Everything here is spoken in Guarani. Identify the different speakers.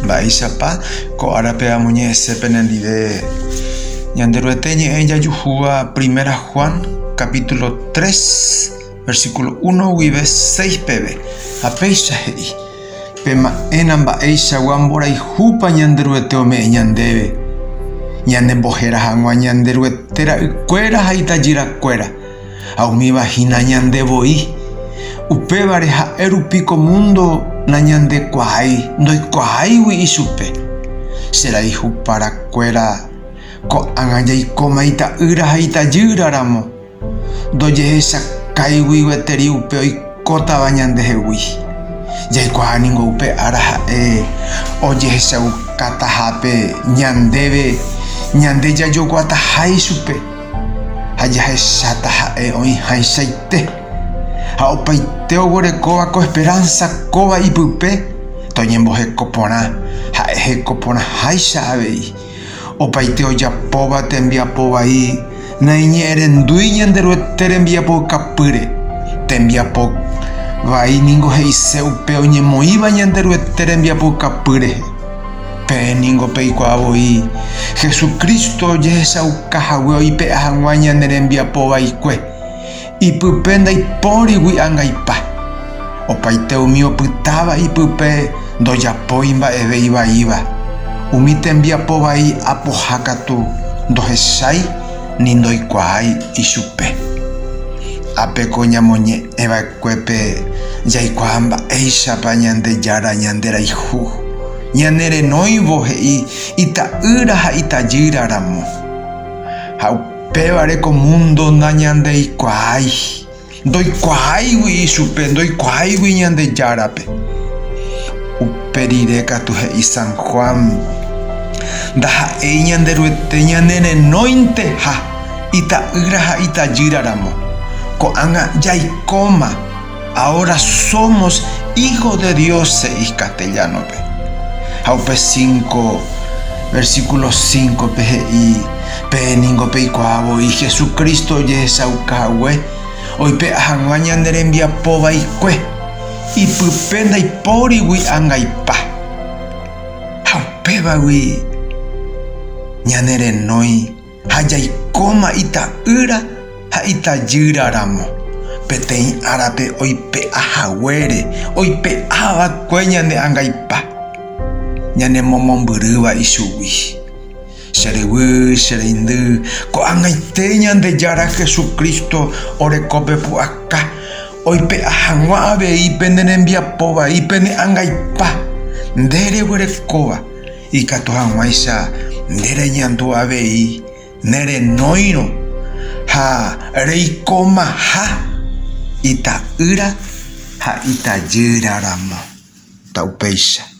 Speaker 1: Mba'éichapa ko árape amoñe'ẽse penendive Ñanderuete ñe'ẽ jajuhúva Primera Juan capítulo 3 versículo 1 guive 6 peve, ha péicha he'i, Pema'ẽna mba'eichagua mborayhúpa Ñanderuete ome'ẽ ñandéve, ñanembohéra hag̃ua Ñanderuete ra'ykuéra ha itajyrakuéra. ha umíva hína ñande voi. Upévare ha'e rupi ko múndo nañandekuaái, ndoikuaáigui ichupe. Che rayhupara kuéra ko'ág̃a jaikóma ita'ýra ha itajýra ramo, ndojehechakãigui gueteri upe oikótava ñandehegui. Jaikuaa ningo upe ára ha'e ojehechaukátaha pe ñandéve ñande jajoguataha ichupe. ha jahecháta ha'e oĩháichaite. Ha opaite oguerekóva ko esperánsa kóva ipype toñemboheko porã, ha'e heko porãháicha avei. Opaite ojapóva tembiapo vai naiñe'ẽrendúi Ñanderuete rembiapoukapýre. Tembiapo vai ningo he'ise upe oñemoĩva Ñanderuete rembiapoukapy rehe. Peẽ ningo peikuaa voi Jesucristo ojehechauka hague oipe'a hag̃ua ñane rembiapo vaikue. Ipype ndaipórigui angaipa. Opaite umi opytáva ipype ndojapói mba'eve ivaíva. Umi tembiapo vai apoha katu ndohechái ni ndoikuaái ichupe. Ápeko ñamoñe'ẽ va'ekue. Kuépe jaikuaa mba'éichapa Ñandejára ñanderayhu. Ñanerenóivo he'i ita'ýra ha itajýra ramo. Ha upévare ko múndo nañandeikuaái, ndoikuaáigui ichupe, ndoikuaáigui Ñandejárape. Upe rire katu he'i San Juan, Ndaha'éi Ñanderuete ñanerenóinteha. Ita'ýra ha itajýra ramo. Ko'ág̃a jaikóma, ahora somos hijos de Dios he'i castellano-pe. Ha upe cinco versículo cinco-pe he'i, Pe ningo peikuaa voi Jesucristo ojehechauka hague oipe'a hag̃ua ñane rembiapo vaikue, ipype ndaipórigui angaipa. Ha upévagui ñane renói. ha jaikóma ita'ýra ha itajýra ramo, peteĩ árape oipe'a haguére oipe'a va'ekue ñane angaipa, ñane momombyrýva ichugui. Che ryvy, che reindy, ko'ag̃aite Ñandejára Jesucristo oreko pe pu'aka, oipe'a haguã avei pene rembiapo vai pene angaipa, nde reguerekóva. Ikatu hag̃uáicha nde reñandu avei ne renóirõ ha reikomaha ita'ýra ha itajýra ramo. Ta upéicha.